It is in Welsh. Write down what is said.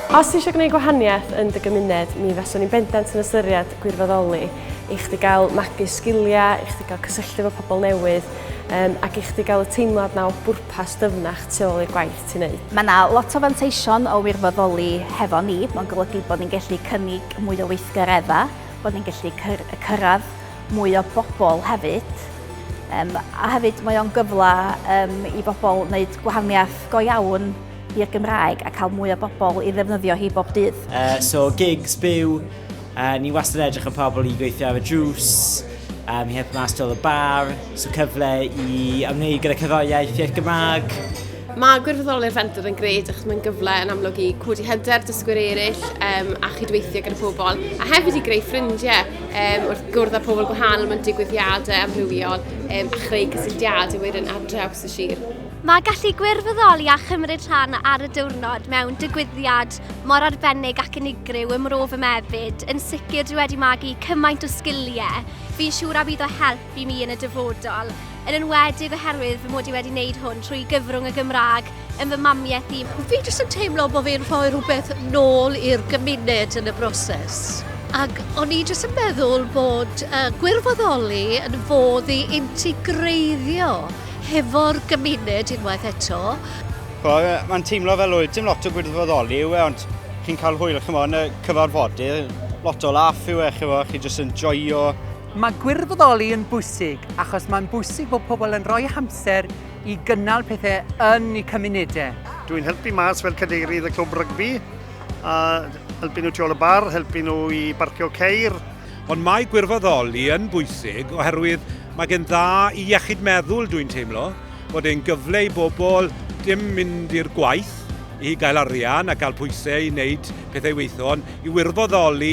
Os ti eisiau gwneud gwahaniaeth yn dy gymuned, mi faswn i'n bendant yn ystyried gwirfoddoli i chdi gael magu sgiliau, i chdi gael cysylltu efo pobl newydd um, ac i chdi gael y teimlad na o bwrpas dyfnach tu ôl i'r gwaith ti'n neud. Mae yna lot o fanteision o wirfoddoli hefo ni. Mae'n golygu bod ni'n gallu cynnig mwy o weithgareddau, bod ni'n gallu cyrraedd mwy o bobl hefyd. Um, a hefyd mae o'n gyfle um, i bobl wneud gwahaniaeth go iawn i'r Gymraeg a cael mwy o bobl i ddefnyddio hi bob dydd. Uh, so gigs, byw, uh, ni wastad edrych yn pobl i gweithio ar y drws, um, i helpu mas dol y bar, so cyfle i ymwneud gyda cyfoiaeth i'r Gymraeg. Mae gwirfoddoli'r fenter yn gred achos mae'n gyfle yn amlwg i codi hyder dysgwyr eraill um, a chydweithio gyda pobl a hefyd i greu ffrindiau. um, wrth gwrdd â pobl gwahanol mewn digwyddiadau amrywiol um, a chreu cysylltiadau wedyn ar draws y sir. Mae gallu gwirfoddoli a chymryd rhan ar y diwrnod mewn digwyddiad mor arbennig ac unigryw ym Mrof y Mefyd yn sicr dwi wedi magu cymaint o sgiliau. Fi'n siŵr a bydd o help i mi yn y dyfodol. yn enwedig oherwydd fy mod i wedi wneud hwn trwy gyfrwng y Gymraeg yn fy mamiaith i. Fi jyst yn teimlo bod fi'n rhoi rhywbeth nôl i'r gymuned yn y broses. Ac o'n i jyst yn meddwl bod uh, gwirfoddoli yn fodd i integreiddio hefo'r gymuned unwaith eto. Mae'n teimlo fel oedd dim lot o gwirfoddoli yw e, ond chi'n cael hwyl chymod, yn y cyfarfodydd, lot o laff yw e, chi jyst yn joio Mae gwirfoddoli yn bwysig achos mae'n bwysig bod pobl yn rhoi hamser i gynnal pethau yn eu cymunedau. Dwi'n helpu mas fel cadeirydd y clwb rygbi, a helpu nhw tu ôl y bar, helpu nhw i barcio ceir. Ond mae gwirfoddoli yn bwysig oherwydd mae gen dda i iechyd meddwl dwi'n teimlo, bod e'n gyfle i bobl dim mynd i'r gwaith i gael arian a cael pwysau i wneud pethau weithon, i wirfoddoli